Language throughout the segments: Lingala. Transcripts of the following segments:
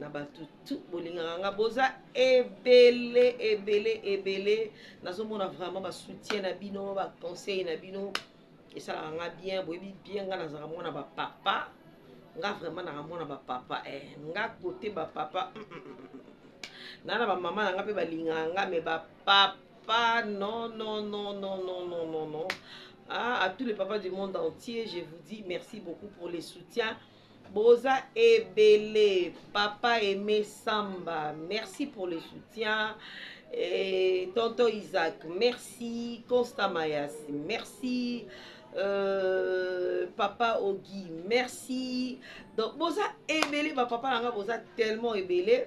na bato tu bolingaka nga boza ebele ebele ebele nazomona vraiment basoutien na bino baconseil na bino esalaka nga bien boyebi bien nga nazaka mwana bapapa nga vraiment naka mwana bapapa e eh, nga kote bapapa mm, mm, mm, na na bamama na nga mpe balingaka nga me bapapa non non non non non non non non ah, à tous les papas du monde entier je vous dis merci beaucoup pour les soutiens Boza ebele papa aime samba merci pour le soutien Et tonton Isaac, merci. Constant Mayas, merci. Euh, papa Ogi, merci. Donc, boza ebele, ba papa nanga boza tellement ebele.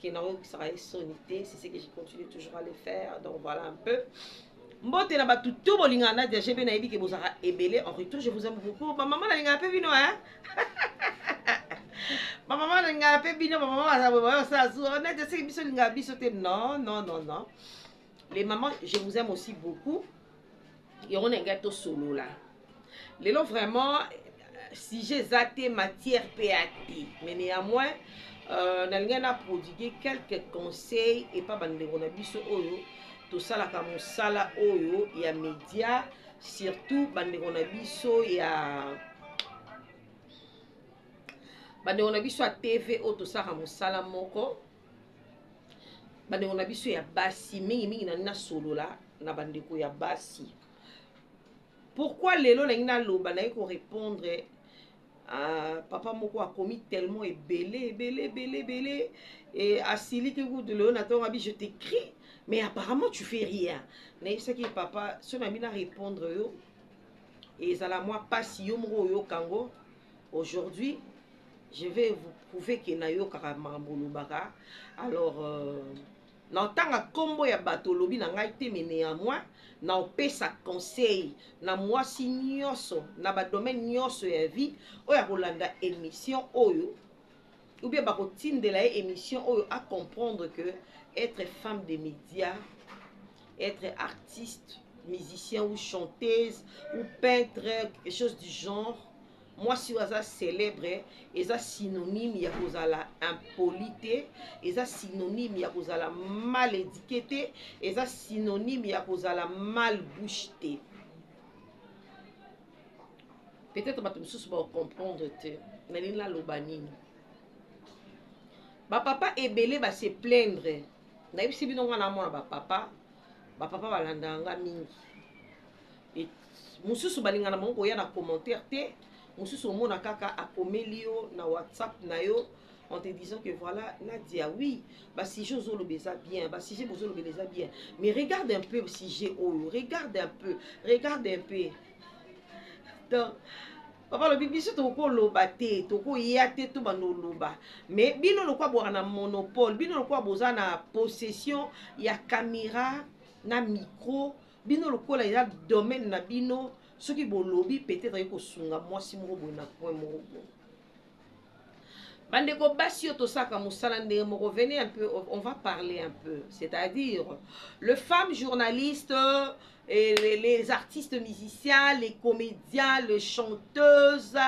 que na oyokisaka ye soni te c'est ce que je continue toujours à le faire donc voilà un peu mbote na bato to bolingaka nadia gb nayebi ke bozalaka ebele en retour je vous aime beaucoup bamama nalingaka mpe bino e bamama nalingaka mpe bino bamama basala zuwa nadia seke biso olingaka biso te non non non non les mamans je vous aime aussi beaucoup yango na ngai tosolola lelo vraiment euh, sujet eza te matière mpe ya te mais néanmoins euh, nalingaki na prodigue quelques conseils epa bandeko na biso oyo tosalaka mosala oyo ya média surtout bandeko na biso ya bandeko na biso ya tv oyo tosalaka mosala moko bandeko na biso ya basi mingimingi na nasolola na bandeko ya basi pourkui lelo nangi naloba naye korepondre Uh, papa moko akomi tellement ebele ebele ebele ebele e asiliki kutu lelo na ntongo abi je t'écris mais apparemment tu fais rien nayebisaki ye papa so na bino arépondre yo ezala mwa mpasi yo moko oyoka yango Aujourd'hui, je vais vous prouver que nayokaka makambo olobaka. Alors, euh, naotanga nkombo ya bato olobi na ngai te, mais néanmoins, naopesa conseil na mwasi nyonso, na badomaine nyonso ya vie, oyo akolanda émission oyo, ou bien bakotindela ye émission oyo a comprendre que être femme de média être artiste musicien ou chanteuse ou peintre quelque chose du genre mwasi oyo aza célèbre eza synonyme ya kozala impoli te eza synonyme ya kozala mal édiqué te eza synonyme ya kozala mal bouche te peut-être bato mosusu bacomprendre te nalingi naloba nini bapapa ebele base plaindre nayebisi bino ngai na mwana bapapa bapapa balandaka nga mingi mosusu balingana bango koya na commentaire te mosusu omona kaka akomeli yo na whatsapp na yo en te disant que voilà Nadia oui ba sujet ozoloba eza bien ba sujet bozolobela eza bien mais regarde un peu sujet oyo regarde un peu regarde un peu donc papa alobi biso tokoki koloba te tokoya te to banda oloba mais bino lokwa bwaka na monopole bino lokwa boza na possession ya camera na micro bino lokola eza domaine na bino soki bolobi peut-être akoki kosunga mwasi moko boye na point moko boye bandeko basi oyo tosaka mosala ndenge moko venez un peu on va parler un peu c'est-à-dire le femme journaliste et les, les artistes musiciens les comédiens les chanteuses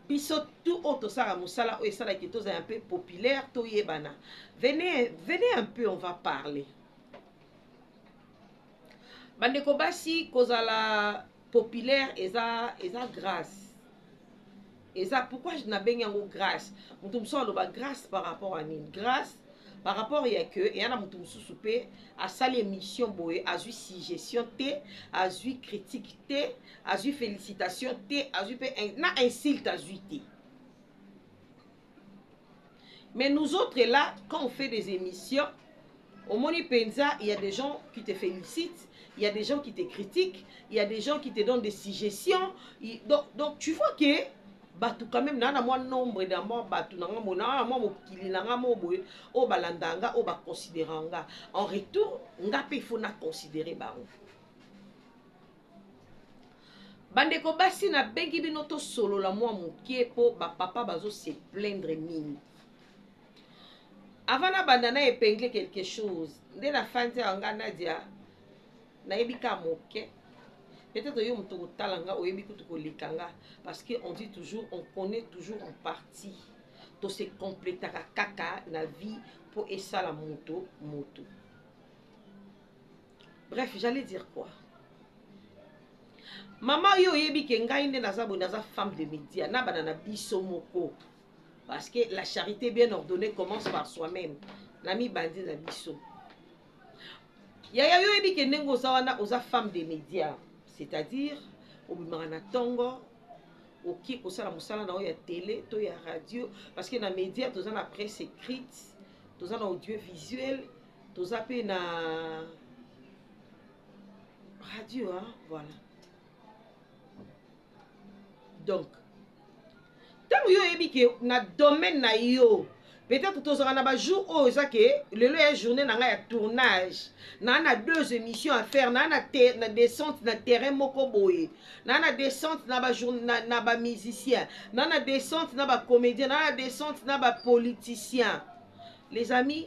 biso tout oyo tosaka mosala oyo esalaki tozala un peu populaire toyebana venez venez un peu on va parler Bandeko basi kozala populaire eza eza grâce. Eza pourquoi je nabengi yango grâce. Mutu mosusu aloba grâce par rapport à nini? Grâce par rapport ya que eya na mutu mosusu pe asali émission boye azui suggestion te, azui critique te, azui félicitation te, azui pe na insulte azui te. Mais nous autres là, quand on fait des émissions, au Moni Penza, il y a des gens qui te félicitent, il y a des gens qui te critiquent, il y a des gens qui te donnent des suggestions. Il, donc, donc, tu vois que bato quand même naa na mwa nombre na mwa bato na nga mona na mwa mokili na nga mo boye oyo balanda nga oyo baconsidera nga en retour nga mpe ifo na considere bango Bandeko basi nabengi bino tosolola mwa moke mpo bapapa bazo se plaindre mingi. Avant nabanda na epingle quelque chose nde nafandi awa nga Nadia nayebi ka moke peut-être yo moto kotala nga oyebi kutu koleka nga parce que on dit toujours on connaît toujours en partie to se completaka kaka na vie mpo esala moto moto bref j'allais dire quoi mama yo oyebi ke ngai nde naza boye naza femme de média na bana na biso moko parce que la charité bien ordonnée commence par soi-même na mibandi na biso yaya yo oyebi ke ndenge oza wana oza femme de média c'est-à-dire obimaka na ntongo oki kosala mosala na yo ya tele to ya radio parce que na média toza na presse écrite toza na audiovisuel toza pe na radio hein? voilà donc ntango yo oyebi ke na domaine na yo peut-être tozalaka na bajour oyo eza ke lelo ya journée na ngai ya tournage naa na deux émissions à faire naa na, te, na descente na terrain moko boye naa na descente na bamusicien na, na, na, na descente na bacomédien naa na descente na bapoliticien les amis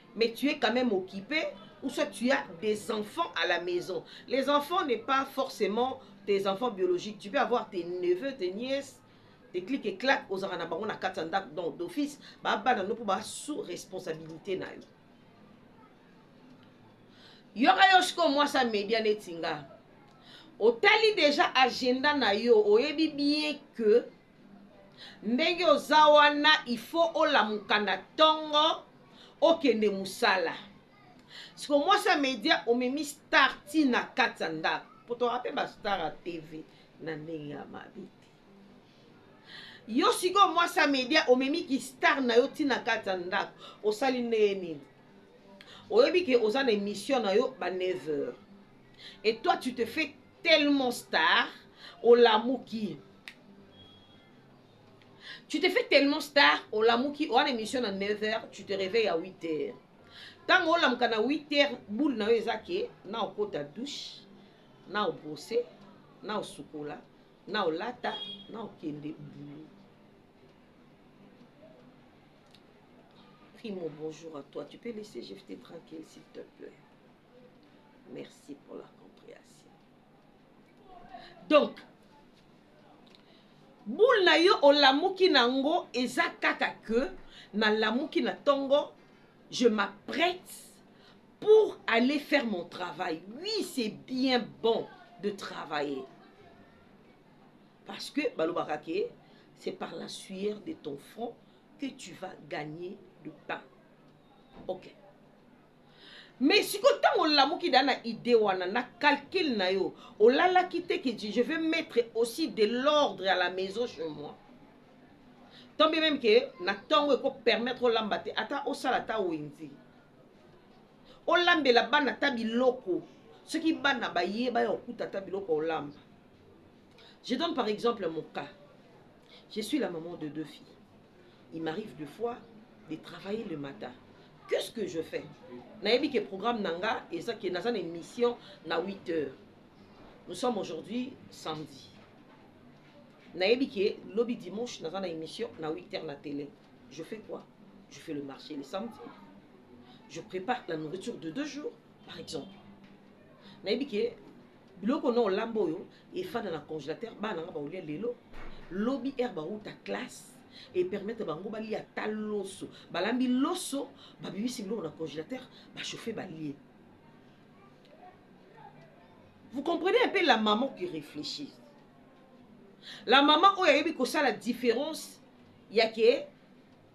mais tu es quand même occupé ou soit tu as des enfants à la maison. Les enfants n'est pas forcément tes enfants biologiques. Tu peux avoir tes neveux, tes nièces, tes clics et claques aux aranabango na katanda donc d'office ba bana no ba sous responsabilité na yo. Yoka yoshko moi ça média netinga. Otali déjà agenda na yo, oyebi bien que ndenge oza wana il faut olamuka na tongo okende musala siko mwasi ya media omemi star ti na kati ya ndako po toyaka mpe bastar ya tv na ndenge ya mabe te yo sikoyo mwasi ya media omemi kistar na yo ti na kati ya ndako osali ndenge nini oyebi ke oza na émission na yo ba 9 heures et toi tu te fais tellement star olamuki tu te fais tellement star olamuki owana émission na 9 heures tu te réveille à 8 heures ntango olamuka na 8 heures boule na yo eza ke na okota douche na obrose na osukola na olata na okende bulu primo bonjour à toi tu peux laisser jefte tranquille s'il te plaît merci pour la comprehension donc boule na yo olamuki na yango eza kaka ke nalamuki na ntongo je m'apprête pour aller faire mon travail oui c'est bien bon de travailler parce que balobaka ke c'est par la sueur de ton front que tu vas gagner le pain ok mais sikoyo ntango olamuki da na idee wana na calcul na yo olalaki te ke je vais mettre aussi de l'ordre à la maison chez moi tant bien même ke na ntongo ekopermettre olamba te ata osala ata wenzi olambela bana ata biloko soki bana baye baya kokuta ata biloko olamba je donne par exemple mon cas je suis la maman de deux filles il m'arrive de fois de travailler le matin qu'est ce que je fais nayebi ke programme na nga eza ke naza na émission na 8 heures nous sommes aujourd'hui samedi nayebi ke lobi dimanche naza na émission na 8 heures na télé je fais quoi je fais le marché le samedi je prépare la nourriture de deux jours par exemple nayebi ke Biloko na olamba oyo efanda na congelateur bana nga baolia lelo lobi heure bawuta classe e permettre bango balia ata loso balambi loso babimisi biloko na congelateur bachauffe balie vous comprenez un peu la maman qui réfléchit la maman oyo ayebi kosala différence yake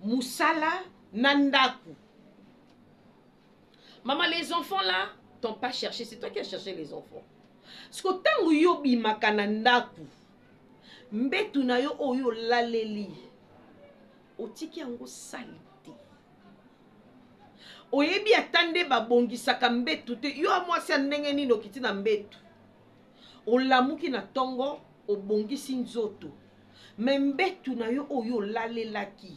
mosala na ndako Maman, les enfants là t'ont pas cherché, c'est toi qui as cherché les enfants. Siko tango yo bimaka na ndaku, mbetu na yo oyo laleli, otiki yango sali te. Oyebi ata nde babongisaka mbetu te, yo amwasi ya ndenge nini okiti na mbetu. Olamuki na tongo, obongisi nzoto. Mais mbetu na yo oyo olalelaki,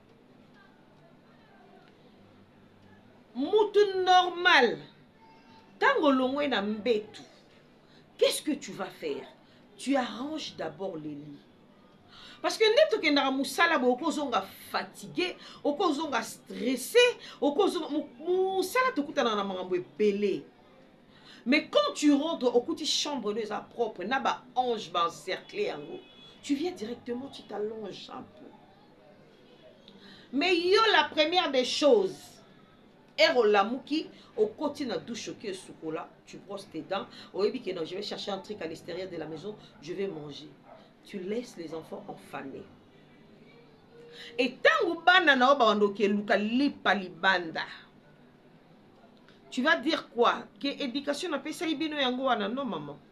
mutu normal ntango olongwe na mbetu qu'est-ce que tu vas faire tu arranges d'abord le lit parce que nde tokendaka mosala boye okozonga fatigue okozonga stresse okozonga mosala tokutana na makambo ebele mais quand tu rentres okuti chambre no eza propre na baange baencercle yango tu viens directement tu t'allonge un peu mais yo la première des choses ere olamuki okoti na douche oki esukola tu brosses tes dents oyebi ke non je vais chercher un truc à l'extérieur de la maison je vais manger tu laisses les enfants enfanés e ntango bana na yo bawanda okeluka lipa libanda tu vas dire quoi ke éducation napesaki bino yango wana non maman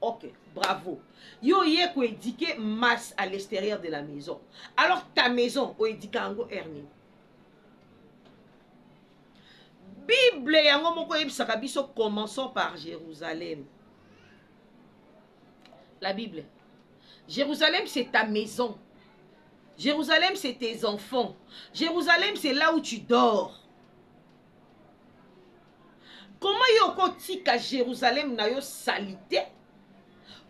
Ok, bravo. Yo ye ko éduquer masse à l'extérieur de la maison. Alors ta maison o éduquer yango Ernie. Bible yango moko yebisaka biso commençons par Jérusalem. La Bible. Jérusalem c'est ta maison. Jérusalem c'est tes enfants. Jérusalem c'est là où tu dors. koma yo okotika jerusalem na yo salite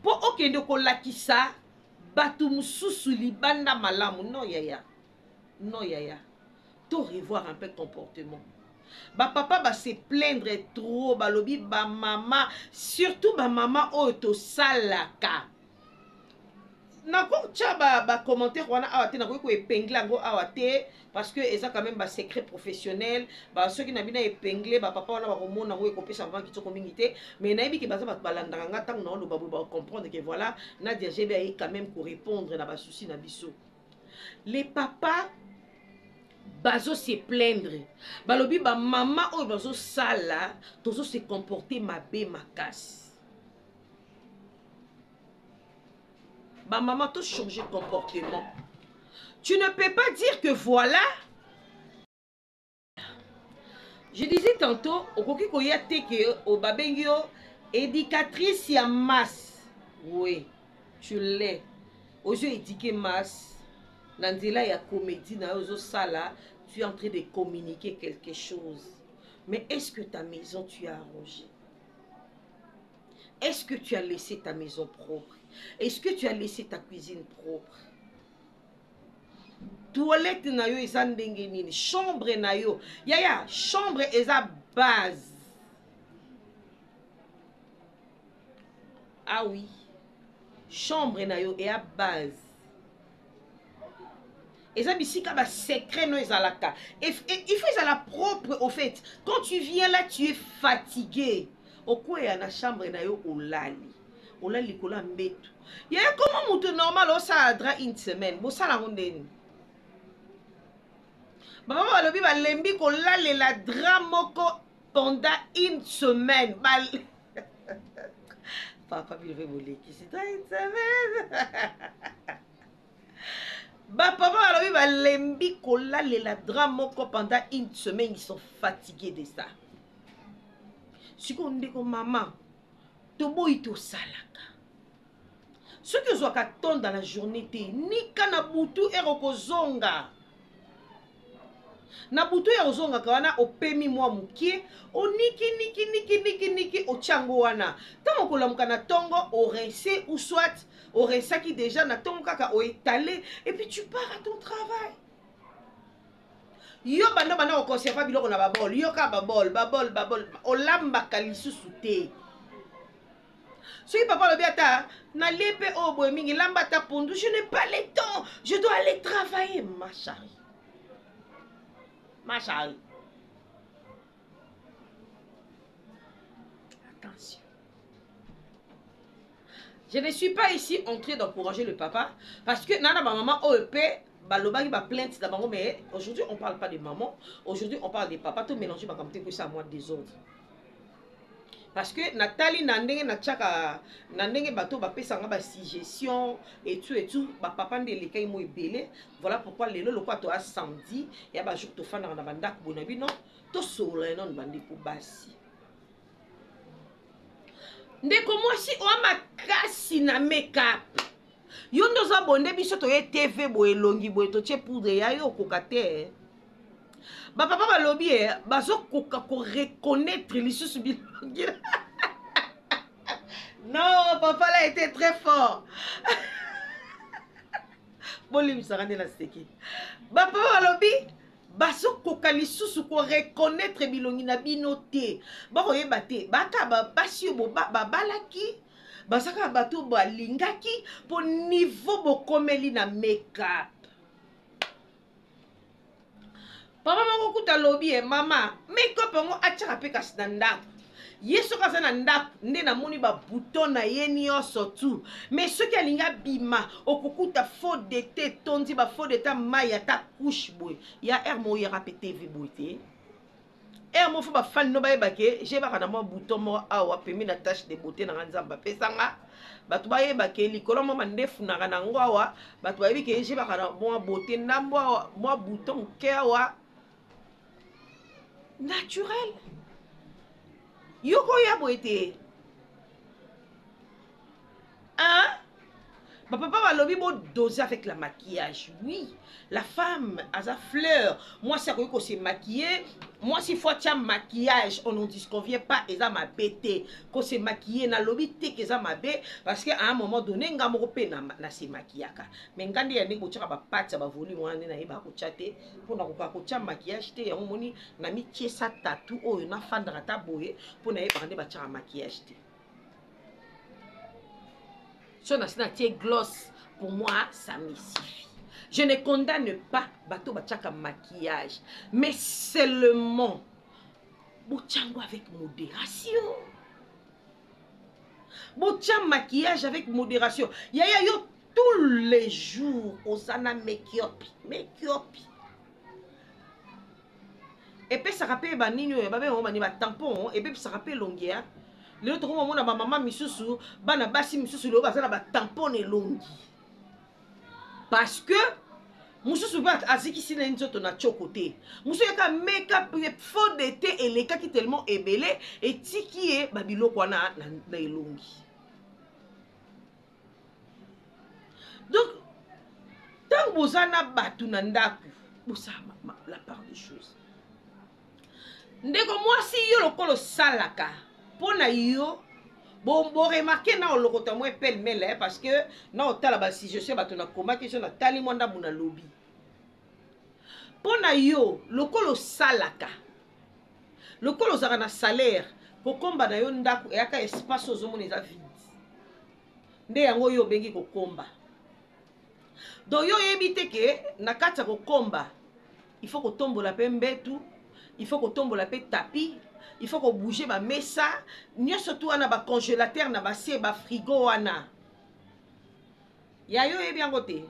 mpo okende kolakisa bato mosusu libanda malamu no yaya no yaya to revoir un peu comportement bapapa base plaindre trop balobi bamama surtout bamama oyo tosalaka nakotya ba, ba commentaire wana awa te nakoki ko epingle yango awa te parce que eza quand même ba secret professionnel ba soki na bino epingle ba papa wana bakomona yango ekopesa vraiment kitoko mingi te mais nayebi ke baza bato balandaka nga ntango naoloba boye bakocomprendre ke voilà nadia gb aye quand même korépondre na basusi na biso les papa bazo se plaindre balobi bamama oyo bazosala tozo se comporte mabe makasi Ba maman to changer comportement. Tu ne peux pas dire que voilà je disais tantôt okoki koya te ke babengi yo éducatrice ya masse oui tu l'es ozo éduquer masse na nzela ya comédie na yo ozosala tu es en train de communiquer quelque chose mais est-ce que ta maison tu as arrangé Est-ce que tu as laissé ta maison propre Est-ce que tu as laissé ta cuisine propre Toilette na yo eza ndenge nini Chambre na yo Yaya, chambre eza base. Ah oui. Chambre na yo ea base. eza bisika ba secret no ezalaka il faut ezala propre au fait quand tu viens là tu es fatigué okweya na chambre na yo olali olali likolo ya mbetu ye koma moto normal osala dra une semaine bosala yango ndeni bamama balobi balembi kolalela dra moko pendant une semaine Bal... papa bino mpe bolekisi ta une semaine bapapa balobi balembi kolalela drame moko pendant une semaine ils sont fatigués de ça sikoyo ndeko mama toboyi tosalaka soki ozwaka ton dans la journée te nika na butu ere okozonga na butu ya ozongaka wana opemi mwa mokie oniki niki niki niki niki otyango wana ntango okolamuka na ntongo orense ou soit orensaki deja na ntongo kaka oetale epuis tu pars à ton travail yo banda banda koconserva biloko na babol yo kaka babol babol babol olambaka lisusu te soki papa alobi ata nalie mpe oyo oh, boye mingi lamba ata pondu je n'ai pas le temps je dois aller travailler ma chari ma chari attention je ne suis pas ici entré d'encourager le papa parce que nana bamama oyo mpe balobaki baplainte na bango mais aujourd'hui on parle pas de maman aujourd'hui on parle de papa to mélange makambo te ekoyisa mwa désordre parce que natali na ndenge natiaka na ndenge bato bapesa nga basuggestion etout etout bapapa nde elekaki mo ebele voilà pourquoi lelo lokola toya samedi ya bajour tofandaka na bandako boye na bino tosolola enone bandeko basi ndeko mwasi oya makasi na makeup yo nde oza bonde biso toye tv boye elongi boye totie poudre ya yo okoka te eh. bapapa balobi e eh, bazokoka koreconnaitre lisusu bilongi non papa la ete très fort bolimbisaka nde naseki bapapa balobi bazokoka lisusu koreconnaitre bilongi na bino te bakoyeba te baka basi oyo babalaki baza kaka bato balingaki mpo nivo bokomeli na makeup mama moko kuta alobi ye mama makeup yango atyaka mpe kasi na ndako ye soki aza na ndako nde namoni babuton na ye nyonso tu mai soki alingi abima okokuta faux dete etondi bafaux dete mai ata couche boye ya r moyaka mpe tv boye te Heure moko ba fan no bayeba ke je baka na mwa bouton moko awa pembe na tache de beauté nanga nzambe apesa nga bato bayeba ke likolo mwa mandefu nanga na yango awa bato bayebi ke je baka na mwa beauté na mwa mwa bouton moke awa naturel yoko ya boye te Hein? Ba papa balobi bo doser avec la maquillage. Oui, la femme a sa fleur. Moi si akoki ko se maquiller, moi si faut tia maquillage, on n'en disconvient pas eza ma bête. Ko se maquiller na lobi te que eza mabe parce que à un moment donné nga moko pe na, na se maquillaka. Mais nga nde ya ndenge botiaka ba pattes ba volume wana na yeba ko tia te pour na ko ko tia maquillage te yango moni na mi tiesa tatou oyo na fandaka ta boye pour na yeba nde ba tia maquillage te. so nasi natie gloss pour moi ça me suffit je ne condamne pas bato batiaka maquillage mais seulement botyango avec modération botya maquillage avec modération yaya yo tous les jours oza na makeup makeup epesaka mpe banini oyo babenga yango bani batampon epesaka mpe elongi ya lelo tokomi omona bamama misusu bana basi misusu lelo baza na batampon na elongi parce que mosusu mpe azikisi na ye nzoto na tioko te mosusu yaka makeup faux de te elekaki tellement ebele etiki ye babiloko wana na elongi donc ntango boza na bato na ndako bosala la part des choses ndeko mwasi yo lokola osalaka mpo na yo boremarke bo na olokota mwa epele mele parce que na otala basuggestion bato nakomaki so natali mwa ndambo nalobi mpo na yo lokola osalaka lokola ozalaka na salaire kokomba na yo ndako eyaka espace oyo ozomona eza vide nde yango oyo obengi kokomba donc yo oyebi te ke na kati ya kokomba il faut kotombola mpe mbetu il faut kotombola mpe tapi il faut kobouge bamesa nyonso tu wana bacongélateur na base bafrigo wana ya yo oyebi yango te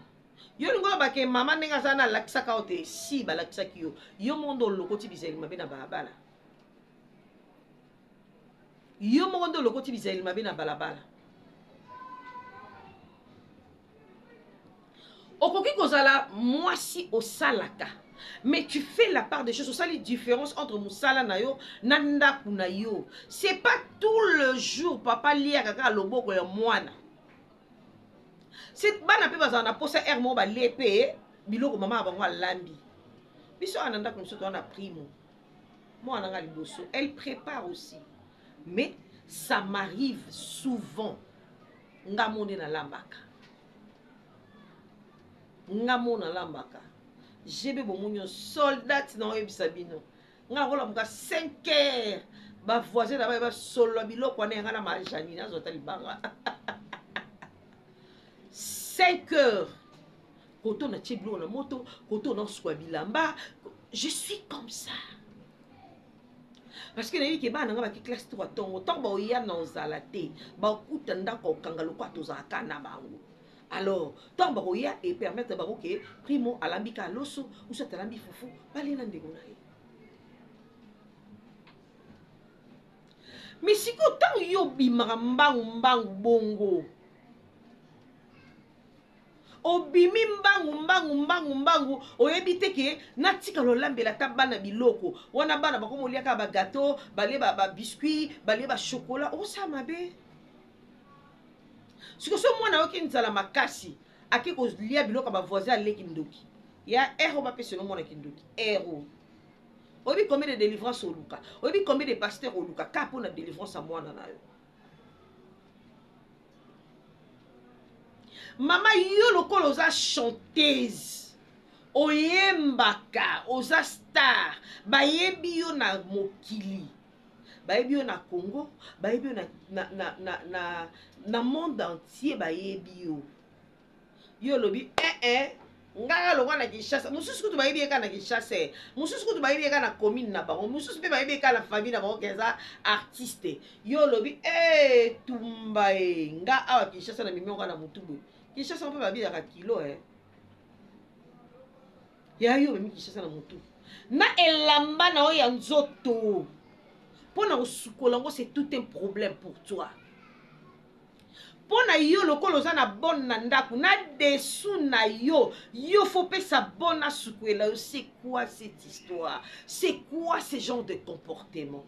yo olingi oloba ke mama ndenge aza na alakisaka yo te si balakisaki yo yo moko nde olokoti bizali mabe na balabala yo moko nde olokoti bizali mabe na balabala okoki kozala mwasi osalaka mais tu fais la part des choses osali différence entre mosala na yo na ndako na yo c'est pas tout le jour papa liaka kaka loboko ya mwana si bana mpe bazala na mposa heure moko balie mpe biloko mama ya bango alambi biso awa na ndako mosusu toza na primo mwana nga liboso elle prépare aussi mais ça m'arrive souvent nga mo nde nalambaka nga mo nalambaka jebe bomoni yo soldate na oyebisa bino nga akolamuka 5 heures bavoisin na baye basolola biloko wana yanga na majani nazwa ata libanga 5 heures koto na tie biloko na moto koto na osukwa bilamba je suis comme ça parce que nayebi ke bana nga baki classe 3 ntongo ntango baoya na ozala te bakuta ndako okanga lokwa tozalaka na bango Alors, tant bakoya et permettre bango que Primo alambi ka loso ou soit alambi fufu, bale na ndeko na ye. Mais sikoyo ntango yo obimaka mbangu mbangu bongo obimi mbangu mbangu mbangu mbangu oyebi te ke natika lolambela ata bana biloko wana bana bakomi olia kaka bagateau balie babiscuit balie bachokola okosala mabe siko so mwana ayoki nzala makasi ake kolia biloko ya bavoisin aleki ndoki ya ero bapesa no mwana kindoki ero oyebi combien de délivrance oluka oyebi combien de pasteur oluka ka mpo na délivrance ya mwana na yo mama yo lokola oza chanteuse oyembaka oza star bayebi yo na mokili bayebi yo na congo bayebi yo na, na, na, na, na, na monde entier bayebi yo yo olobi ee eh, eh, ngaka lokwa na kinshasa mosusu kutu bayebi ye kaka na kinshasa eh. mosusu kutu bayebi ye kaka na commune na bango mosusu mpe bayebi ye kaka na famille na bango keza artiste yo olobi ee tumba e nga awa kinshasa na mimioka na motubu kinshasa mpe babinaka kilo eh. ya yo omemi kinshasa na motu na elamba na yo ya nzoto mpo na kosukola yango c'est tout un problème pour toi mpo na yo lokola oza na bone na ndako na desu na yo yo fopesa bone asukwela yo c'est quoi cette histoire c'est quoi ce genre de comportement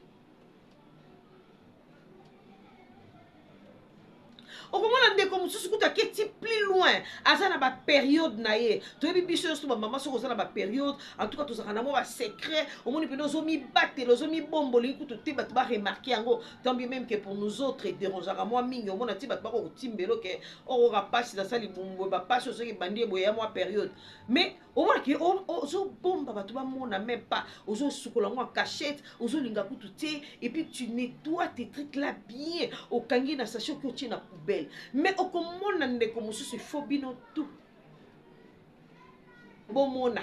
okomona ndeko mosusu kutu aketi plus loin aza na baperiode na ye toyebi biso nyonso bamama soki oza na baperiode antuka tozalaka na mwa basecret omoni mpena ozomibatela ozomibombolingi kutu te bato baremarke yango tambi meme ke pour nous autres ederangeaka mwa mingi omona ti bato bakokotimbelo ke okoka oh, mpasi nasali bumbwe bapasi ozoki ebandi eboye ya mwa periode mais omona ke ozobomba bato bamona meme pas ozosukola yango en cachette ozolinga kutu te epuis tu nettoie tes truc là bien okangi na sache oki otie na poubelle mais okomona ndeko mosusu ifo bino tu bomona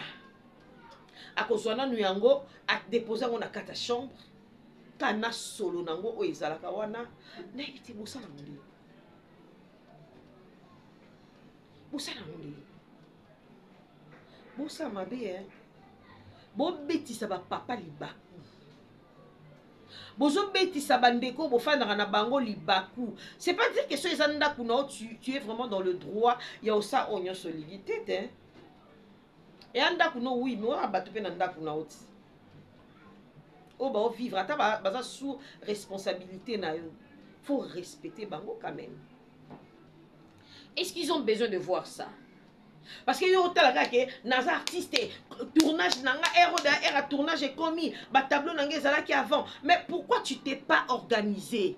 akozwa nanu yango adepose yango na kati ya chambre kana solo na yango oyo ezalaka wana nayebi te bosala yango ndenge bosala yango ndenge bosala mabe e eh. bobetisa bapapa libaku bozobetisa bandeko bofandaka na bango libaku c'est pas dire que so eza ndako na yo tu, tu es vraiment dans le droit ya osa oyo nyonso olingi te te eya ndako no oui mais oya bato mpe na ndako na yo ti oyo baovivre ata baza sous responsabilité na yo faut respecter bango quand même est ce qu'ils ont besoin de voir ça parce que yo otala kaka ke naza artiste tournage na nga ero da era tournage ekomi batableau na nga ezalaki avant mais pourquoi tu t'es pas organisé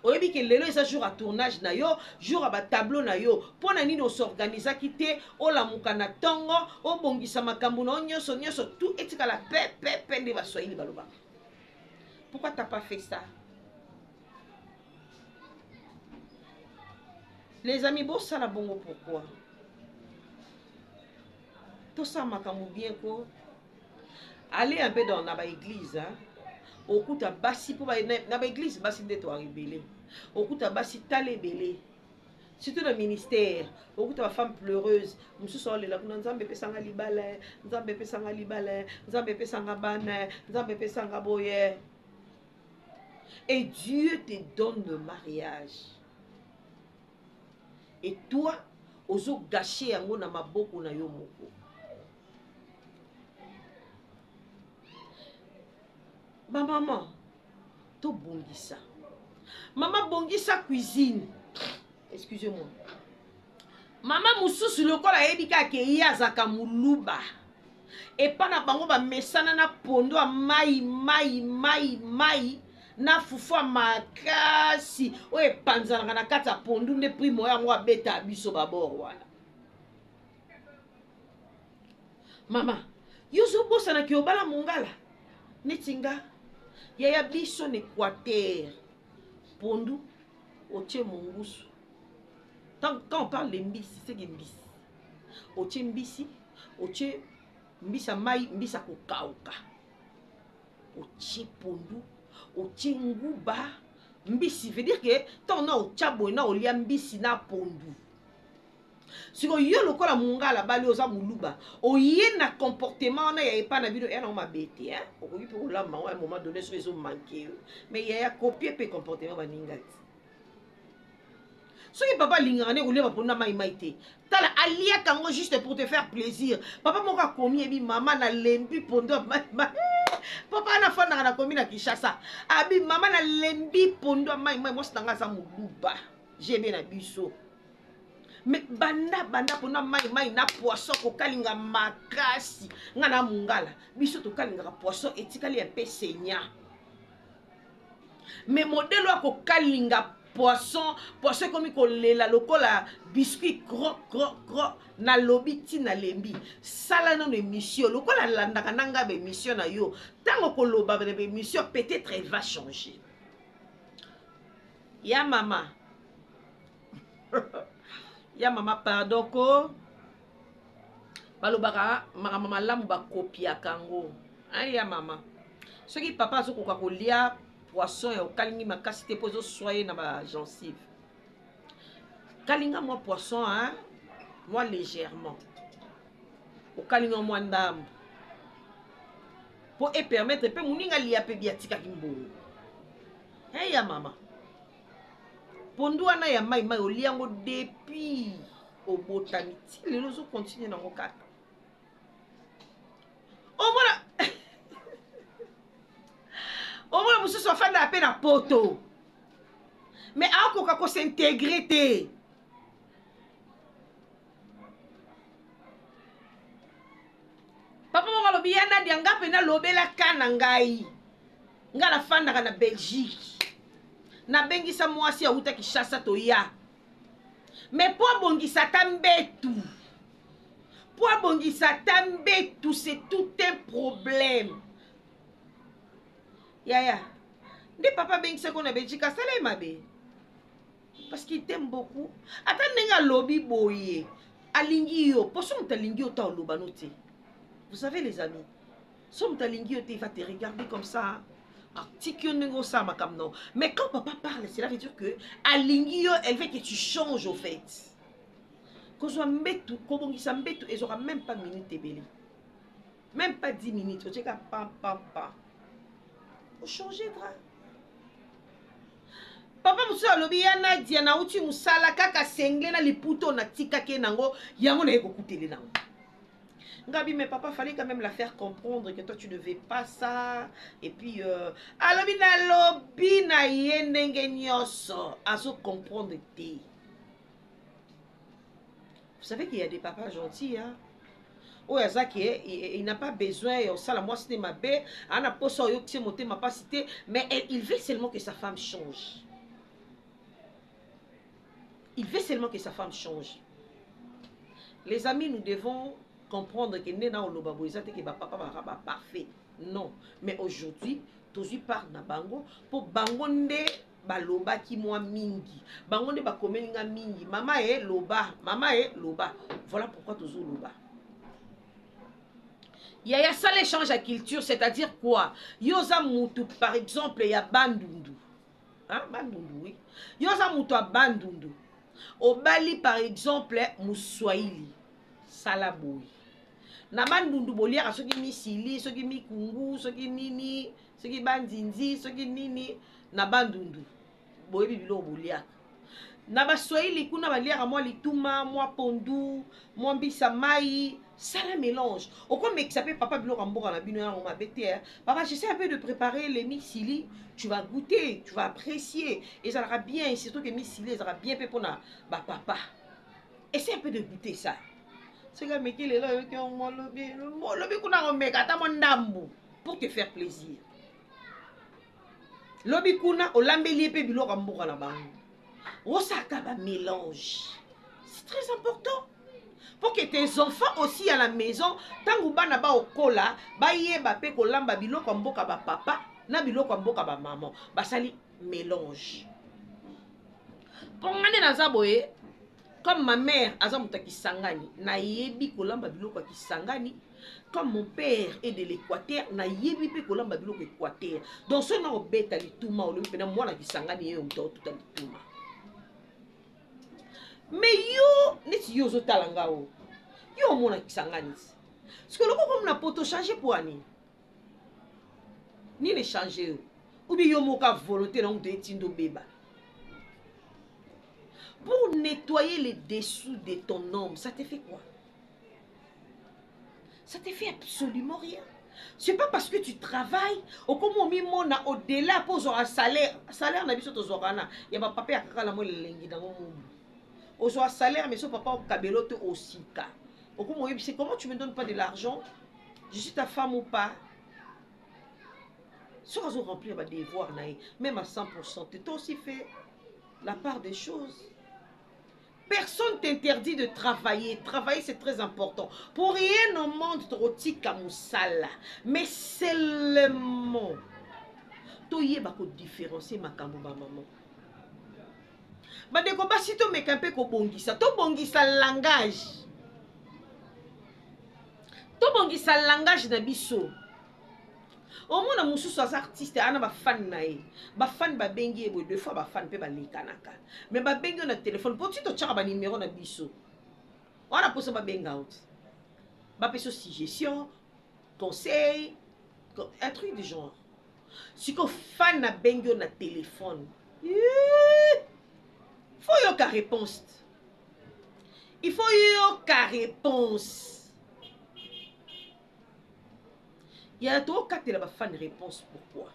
oyebi ke lelo eza jour ya tournage na yo jour ya batableau na yo mpo na nini osorganisaki te olamuka na ntongo obongisa makambo na yo nyonso nyonso tu etikala pepepe nde baswahili balobaka pourquoi t'as pas fait ça les amis bosala bongo pourquoi tosala makambo bien ko aller un peu dans na baeglise hein? okuta basi mpo na baeglise basi nde toa ebele okuta basi tala ebele surtout na ministère okuta bafemme pleureuse mosusu aolela kuna nzambe epesanga libala nzambe epesanga libala nzambe epesanga bana nzambe epesanga boye et Dieu te donne le mariage et toi ozo gâcher yango na maboko na yo moko ba maman tobongisa mama bongisa cuisine excusez moi mama mosusu lokola ayebi kaka ke ye azalaka moluba epa na bango bamesana na pondo ya mai mai mai mai na fufu ya makasi oyo epanzanaka na kati ya pondu nde primo oyo yango abeta biso babor wana mama yo ozobosanaki obala mongala neti nga yaya biso na equateur pondu otie mongusu quand on parle de mbisi c'est que mbisi otie mbisi otie mbisi ya mai mbisi ya kokauka otie pondu otie nguba mbisi veut dire que ntango na otya boye na olia mbisi na pondu siko yo lokola mungala bali oza muluba oye na comportement wana ya epa na bino eya nango mabe te hein? okoki mpe kolamba yango ya moment donné soki ezomanke yo mais ya ya copie mpe comportement baninga te soki papa alingaka nde kolia baponi na mai mai te tala aliaka yango juste pour te faire plaisir papa moko akomi yebi mama nalembi pondo ya mai mai papa wana afandaka na komi na kinshasa abi mama nalembi pondo ya mai mai mwasi na ngai aza moluba jebe na biso mais banda banda pona mai mai na poisson kokalinga makasi nga na mungala biso tokalingaka poisson etikali ya mpe senya mais modele ya kokalinga poisson poisson ekomi kolela lokola biscuit cro cro cro nalobi ti nalembi sala nano émission lokola alandaka na ngai baémission na yo ntango koloba na baémission peut-être va changer Ya mama. ya mama pardon ko balobaka makambo malamu bakopiaka yango ya mama soki papa azokoka kolia poisson ya okalingi makasi te mpo ezoswa ye na bagencive kalinga mwa poisson hein? mwa légèrement okalinga mwa ndambo mpo epermettre mpe moninga alia mpe biatikaki mbongo Hey ya mama. Pondu wana ya mai mai olia yango depuis obotami ti lelo ozo continue nango kaka. Omona omona mosusu afandaka mpe na poto mais akoka kosintegre te papa moko alobi ya nadia nga mpe nalobela ka na ngai nga nafandaka na belgique nabengisa mwasi awuta kishasa toya me mpo abongisa ata mbetu mpo abongisa ata mbetu c'est tout un problème yaya nde papa abengisaki ona belgique asala ye mabe parce qu'il t'aime beaucoup ata ndenge alobi boye alingi yo mpo soki moto alingi yo ta oloba no te vous savez les amis soki moto alingi yo te il va te regarder comme ça atiki yo ndenge osala makambo nao mais quand papa parle cela veut dire que alingi yo elle veut que tu changes au fait kozwa mbetu kobongisa mbetu ezwaka même pas minute ebele Même pas 10 minutes, tu as pam pam pam. Au changer drap. papa mosusu alobi ya nadia nauti mosala kaka sengle na liputo natikaki ye nango yango naye kokutele nango ngabi mais papa fallait quand même la faire comprendre que toi tu ne veux pas ça et puis euh, alobi nalobi na ye ndenge nyonso azo comprendre te Vous savez qu'il y a des papas gentils, hein? oyo aza ke il n'a pas besoin ya osala mwasi te mabe ana mposa oyokisi ye motema mpasi te mais eh, il veut seulement que sa femme change il veut seulement que sa femme change les amis nous devons comprendre que nde na oloba boye eza te ke bapapa baka baparfait non mais aujourd'hui tozwi part na bango mpo bango nde balobaki mwa mingi bango nde bakomeli nga mingi mama e loba mama e loba voilà pourquoi tozoloba yaya sala échange ya culture c'est-à-dire quoi yo oza mutu par exemple ya bandundu hein? bandundu oui yo oza mutu ya bandundu obali par exemple moswahili sala boye na bandundu boliaka soki misili soki mikungu soki nini soki bandindi soki nini na bandundu boyebi biloko boliaka na baswahili kuna baliaka mwa lituma mwa pondu mwa mbisa mai sala mélange okomekisa mpe papa biloko ya mboka na bino yango mabe te eh. papa j'essaie un peu de préparer le misili tu vas goûter tu vas apprécier ezalaka bien surtout que misili ezalaka bien mpe mpona bapapa essaie un peu de goûter ça soki ameki lelo oyoki yango olobi olobi kuna komeka ata mwa ndambu pour te faire plaisir lobi kuna olambeli ye mpe biloko ya mboka na bango osalaka bamélange c'est très important pour que tes enfants aussi à la maison ntango bana baokola bayeba mpe kolamba biloko ya mboka bapapa na biloko ya mboka bamama basali mélange mpo nga nde naza boye comme ma mère aza moto ya kisangani nayebi kolamba biloko ya kisangani comme mon père est de l'équateur nayebi mpe kolamba biloko équateur donc soki nakobeta lituma olobi mpena mwana kisangani yeyo moto akotuta lituma me yo neti yo ozotala nga o yo omona kisangani sikoyo loko komi na poto change mpo ani nini echange yo obi yo moka volonté na moto etinda obeba pour nettoyer les dessous de ton homme ça te fait quoi ça te fait absolument rien c'est pas parce que tu travailles okomi omimona au-delà mpo ozwaka salaire salaire na biso tozwaka na ya bapapa ya kaka namo elengi nango mobu ozwaka salaire mais so papa okabelo te osika okomi oyebisi comment tu me donnes pas de l'argent je suis ta femme ou pas soki azo remplir badevoir na ye même à 100 pourcent te toi aussi fait la part des choses personne t'interdit de travailler travailler c'est très important pour rien au monde tokotika mosala mais seulement toyeba kodifférencie makambo bamama bandeko basi tomeka mpe kobongisa tobongisa langage tobongisa langage na biso omona mosusu aza artiste ana bafane na ye bafane babengi ye boye de fois bafane mpe balekanaka me babengi yo na telefone mpo ti totyaka banimero na biso wana mposo babenga yo ti bapesa suggestion conseil un truc du genre siko fane abengi yo na telefone fo yoka réponse il faut yoka réponse yaya tokatela bafani réponse pourquoi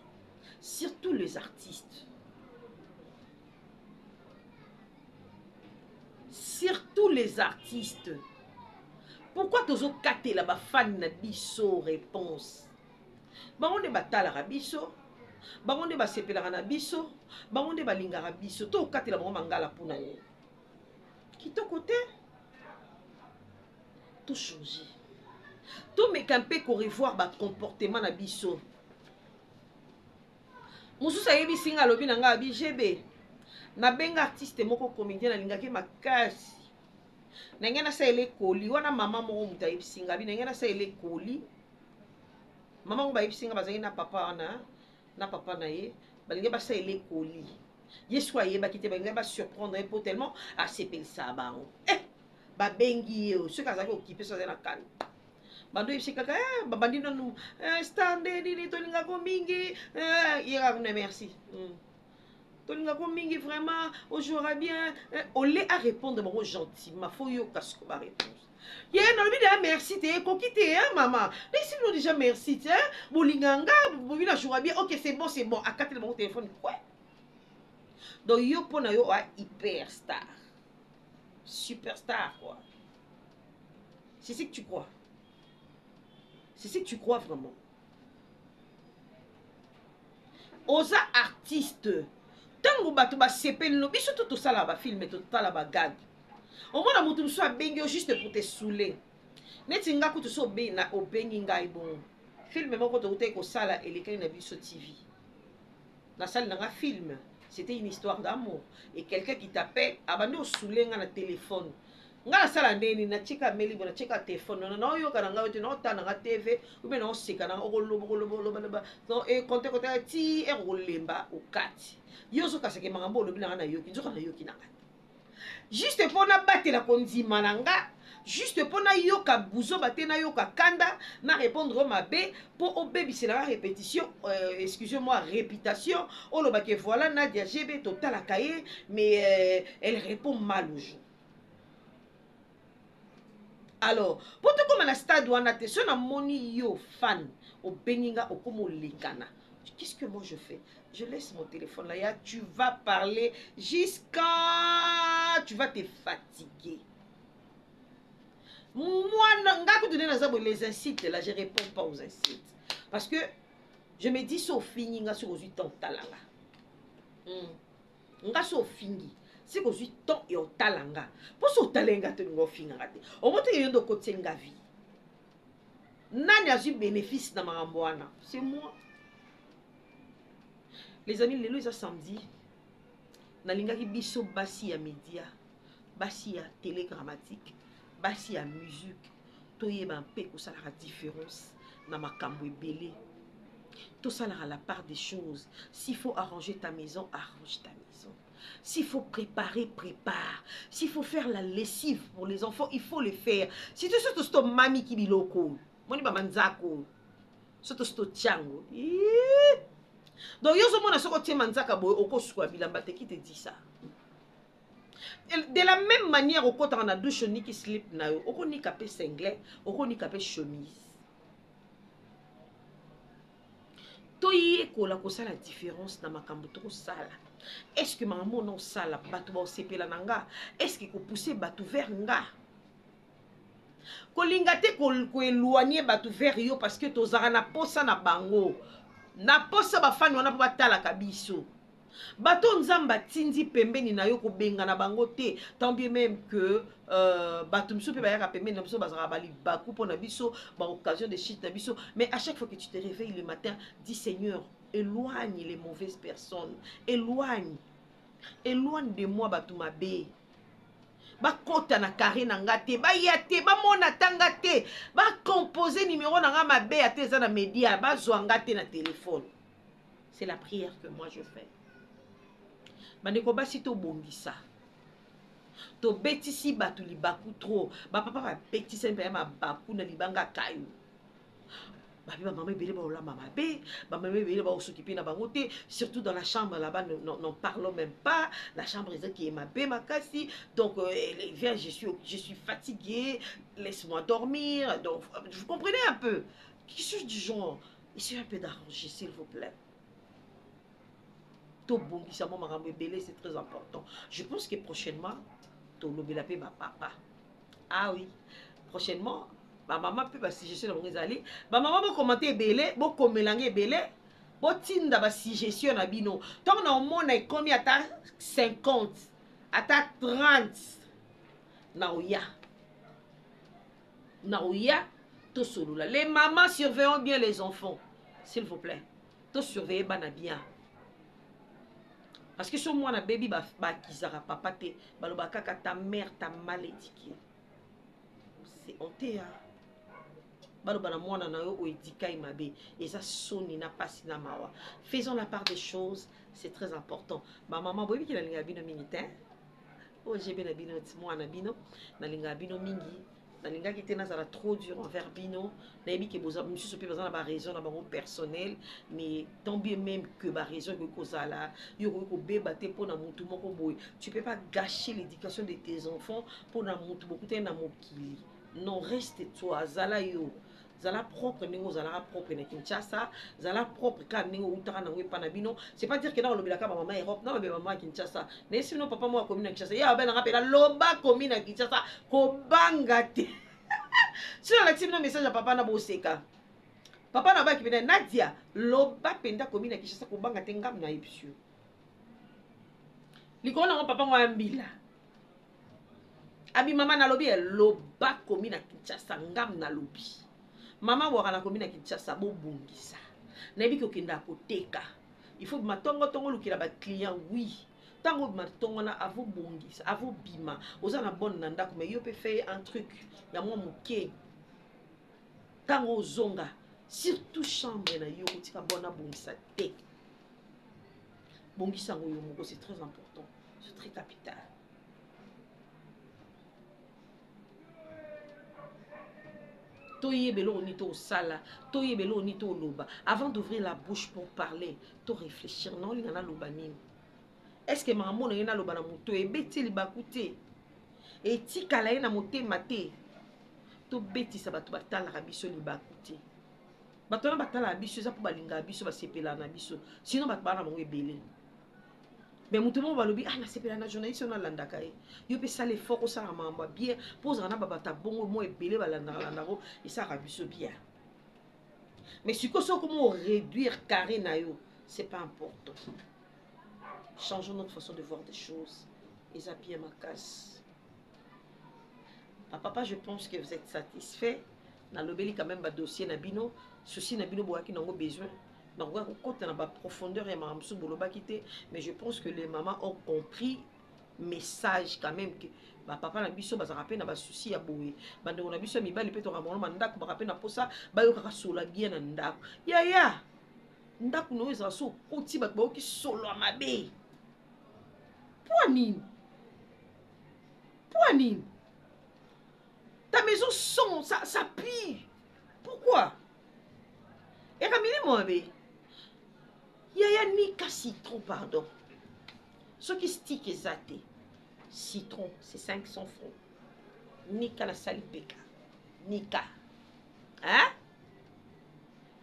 surtout les artistes surtout les artistes pourquoi tozokatela bafani na biso réponse bango nde batalaka biso bango nde basepelaka na biso bango nde balingaka biso tokatela bango mangala mpo na nini kitoko te to change tomeka mpe korevoir bacomportement na biso mosusu ayebisi ngai alobi na ngai abi gb nabenga artiste moko comédien nalingaki makasi na ngai nasalela ekoli wana mama moko moto ayebisi ngai abi na ngai nasalela ekoli mama ngo bayebisi ngai bazalaki na papa wana na papa na ye balingi basalela ekoli ye siko ayebaki te balingi basurprendre ye mpo tellement asepelisa bango eh, babengi ye oyo soki azalaki okipe soki azali na kani bando oyebisi kaka eh, babandi nanu eh, star nde nini tolingako mingi eh, ye kaka kuna merci mm. tolingako mingi vraiment ojouera bien eh, ole arépondre bango gentiment fo yoka siko baréponse ye nalobi deya merci te ekoki te hein, mama nayisi bino déjà merci te hein? bolinga nga bobi na joura bien ok c'est bon c'est bon akatela bango telefone kwe donc yo mpo na yo oa hyper star superstar quoi c'est ce que tu crois c'est ce que tu crois vraiment oza artiste ntango bato basepeli no biso to tosala bafilme totala bagage omona moto mosusu abengi yo juste pour te soule neti nga kutu so obengi ngai bongo filme moko toutaki kosala elekaki na biso tv na sali na nga film c'etait une histoire d'amour et quelqu'un qui t'appelle abandi osule nga na telephone nga nasala nde nini natika meli boye natika telefone nona naoyoka na ngai ote naotala na ngai tv ube naoseka na ngai okoloba okoloba oloba loba no ekonte konte ti ere okolemba okati yo ozokaseke makambo olobi na ngai nayoki nzoka nayoki na ngai juste mpo nabatela kondima na nga juste mpo nayoka buzoba te nayoka kanda na répondre o mabe mpo obebisela nga répétition euh, excuse moi réputation oloba ke voilà nadia gb totalaka ye mais euh, elle répond mal aux gens alors po tokóma na stade wana te so namoni yo fan obengi nga okóma olekana qu'est ce que moi je fais je laisse mon téléphone là ya tu vas parler jusqu'à tu vas te fatiguer mwana nga kutu nde naza boye les insultes là je réponds pas aux insultes parce que je me dis so ofingi nga soki ozwi temps otalanga mm. nga so ofingi sika ozwi temps ya otala nga mpo so otala nga te olinga ofingaka te omoto yo nde okotisi nga vie nani azwi bénéfice na makambo wana c'est moi les amis lelo eza samedi nalingaki biso basi ya média basi ya télé grammatique basi ya musique toyeba mpe kosalaka différence na makambo ebele tosalaka la part des choses s'il faut arranger ta maison arrange ta maison s'il faut préparer prépare s'il faut faire la lessive pour les enfants il faut le faire surtout surtout soki tomamiki biloko oyo moni bamanzaka oyo soki tosi totya yango donc yo ozomona soki otie manzaka boye okosuka bilamba te ki te disa de la meme manière okotaka na douche oniki slip na yo okonika mpe singlet okonika mpe chemise toyekola kosala différence na makambo tokosala estce makambo ona osala bato baosepela na nga estce kopousse bato vers nga kolinga te koeloigne bato vers yo parce que tozalaka na posa na bango na posa bafani wana mpo batalaka biso bato oyo nzambe atindi pembeni na yo kobengana bango te tant bien même que euh, bato mosusu mpe bayaka pembeni na biso bazalaka balibaku mpo na biso baoccasion de chute na biso mais à chaque fois que tu te réveille le matin dit seigneur éloigne les mauvaises personnes éloigne éloigne de moi bato mabe bakota na carré na nga te baya te bamona ata nga te bacompose numero na nga mabe ata eza na media bazwa nga te na telefone c'est la prière que moi je fais bandeko basi tobongisa tobetisi bato libaku trop bapapa babetisani mpenza mabaku na libanga kayo babi bamama ebele baolamba mabe bamama ebele baosoki mpe na bango te surtout dans la chambre là-bas n'en parlons même pas la chambre ezaki ye mabe makasi donc euh, les viens je suis, je suis fatigué laisse-moi dormir donc vous comprenez un peu quelque chose du genre Essayez un peu d'arranger, s'il vous plaît. tobongisa mwa makambo ebele c'est très important je pense que prochainement tolobela mpe bapapa ah oui prochainement bamama mpe basuggestion na bango ezali bamama bokomante ebele bokomela nge ebele botinda basuggestion na bino ntango na omona ekomi ata 50 ata 30 na oya nakoya tosolola les mamans surveillons bien les enfants s'il vous plaît tosurveille bana bien parce que so mwana bebi bakizaka ba papa te baloba kaka ta mère ta mal édiqué c'est honte hein? baloba na mwana na yo oyo edikai mabe eza soni na mpasi na mawa faisons la part des choses c'est très important bamama boyebi kina linga bino mingi te OGB na bino ti mwana na bino nalingaka bino mingi nalingaki te nazala trop dur envers bino nayebi ke boza misusu mpe baza na baraison na bango personnel mais tant bien même que baraison ekoki kozala yo okoki kobeba te mpo na motu moko boye tu peux pas gâcher l'éducation de tes enfants mpo na motu bokutani na mokili non reste toi zala yo zala propre ndenge ozalaka propre na kinshasa zala propre kaka ndenge outaka nango epa na bino c'est pas dire ke nakolobelaka bamama europe nalobela bamama ya kinshasa nayesi bino papa moko akomi na kinshasa ye abelanga mpela loba akomi na kinshasa kobanga te soki alakisi bino message ya papa na boseka papa na baki pena nadia loba mpenza akomi na kinshasa kobanga te ngambo na ye bisio likolo nango papa ngo ya mbila abi mama nalobi eh, loba komi na kinshasa ngam nalobi mama waka nakomi na kinshasa bobongisa nayebi kokenda koteka il faut bima tongo tongo olukela baclient wi ntango obima tongo na avobongisa avobima oza na bone na ndako mai yo mpe feye un truc ya mwa moke ntango ozonga surtout chambre na yo kotika bone abongisa te bongisa yango yo moko c'est très important c'est très capital toyeba eloko nini tosala toyeba eloko nini toloba avant d'ouvrir la bouche pour parler to réfléchir na olinga naloba nini est ce que makambo na ye naloba na moto ebeti libaku te etikala ye na motema te tobetisa bato batalaka biso libaku te bato wana batalaka biso eza mpo balingaka biso basepelaka na biso sino bato baa na bango ebele me moto moko balobi ah nasepela na journaliste oyo nalandaka ye yo mpe sala effort osala makambo ya bien mpo ozala na babato ya bongo mwa ebele balandaka landako esalaka biso bien mais sikoyo soki okomi oréduire carré na yo c'est pas important changeons notre façon de voir des choses eza bien makasi ah, papa je pense que vous êtes satisfait na lobeli quand même ba dossier na bino souci na bino boyaki nango besoin nakoka kokota na ba profondeur ya makambo mosusu bolobaki te mais je pense que les mamans ont compris message quand même que bapapa na biso bazalaka mpe na basusi ya boye bandeko na biso ya mibali mpe tokaka bango na ndako baka mpe na mposa bayokaka sola bien na ndako yaya ndako na oyo ezala so okoti bato bayoki solo ya mabe mpo nini mpo nini ta maison son ça, ça pue pourquoi eka milimo mabe yaya nika citron pardon soki stik eza te citron c'est 500 francs nika nasali peka nika hein?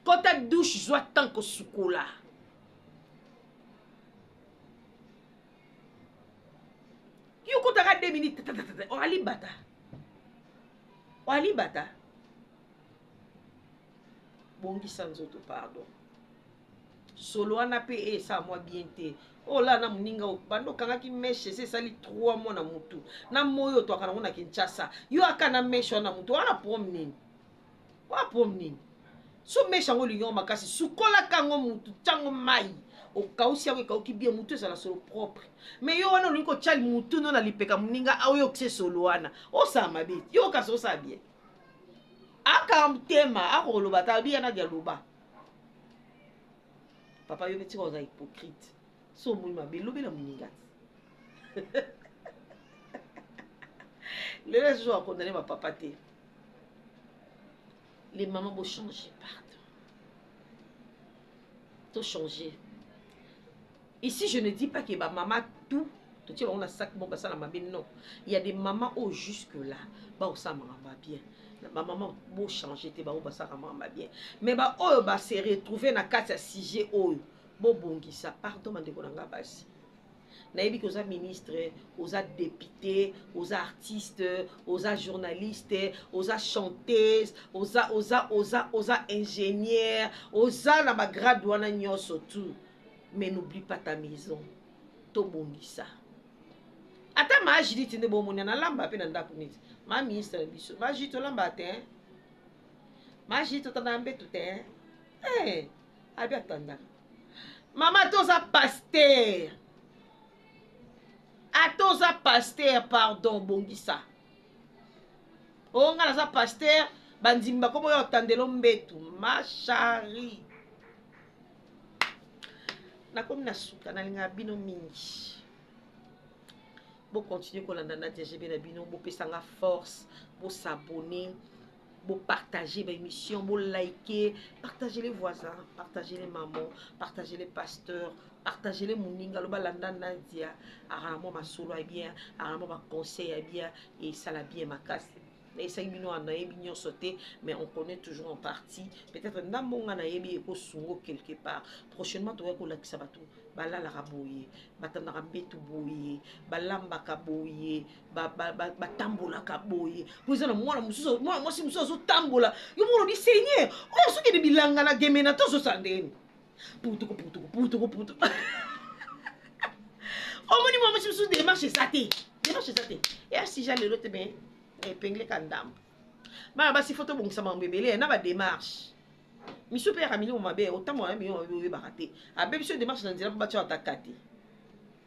kota douche zwa temps kosukola yo kotaka 2 minutes orali bata orali bata bongisa nzoto pardon solo wana mpe esa mwa bien te ola oh, na moninga banda okangaki meshe esi esali 3 mois na motu na moi oyo twaka nango na kinshasa yo aka na meshe wana na motu wana prom nini wa prom nini so mesha yango olingi yango makasi sukolaka yango mutu tyango mai okausi yango ekauki bie mutu ezala solo propre mai yo wana olingi kotya mutu no na lipeka moninga aoyokisa esolo wana osala mabe yo kasi osala bie aka motema akoloba ata biya nadi aloba papa yo metika oza hypocrite so omoi mabe lobela moninga lelo ezozo akondane bapapa te les mamans bo changer pardon to changer ici je ne dis pas que ba mama tout totie bango na sac moko basala mabe non il y a des mamans oyo jusque là baosala makambo ya bien na bamama bochange te bango basalaka makambo ya bien mais baoyo base retrouve na kati ya sujet oyo bobongisa pardon bandeko na ngai basi nayebi ke oza ministre oza depute oza artiste oza journaliste oza chanteuse oza oza oza oza ingénieur oza na bagrade wana nyonso tout mais n'oublie pas ta maison tobongisa ata maa judite nde bomoni nalamba mpe na ndako neti maa ministre na biso maa judite olamba te maa judite otandaka mbetu te eh, abi atandaka mama toza paster ata oza paster pardon bongisa o oh, ngai naza paster bandimi bakomi oyo otandelo mbetu mashari nakomi na suka nalingaka bino mingi bokontinue kolanda na dgb na bino bopesanga force bosabone bo partager ba émission bo liker partager les voisins partager les mamans partager les pasteurs partager les moninga loba landa nandia akana mwa masolo ya bien akana mwa baconseil ya bien esala bien makasi nayesaki bino wana nayebi nyonso te mais on connaît toujours en partie peut-être ndambo nga nayebi ekosungo quelque part prochainement tokoki kolakisa bato balalaka boye batandaka mbetu boye balambaka boye batambolaka boye po eza na mwana mosusu mwana mwasi mosusu azotambola yo moko olobi seigneur oyo azokende bilanga na gemena to azosala ndenge nini putuku putuku putuku putuku omoni mwana mwasi mosusu demarche eza te demarche eza te ya sija lelo te me epengle ka ndambo bana basi fo tobongisa makambo ebele na bademarche misu mpe yaka milimo mabe otambola na milimo mabe oyebaka te abebi so demarche na nzela mpo batya bataka te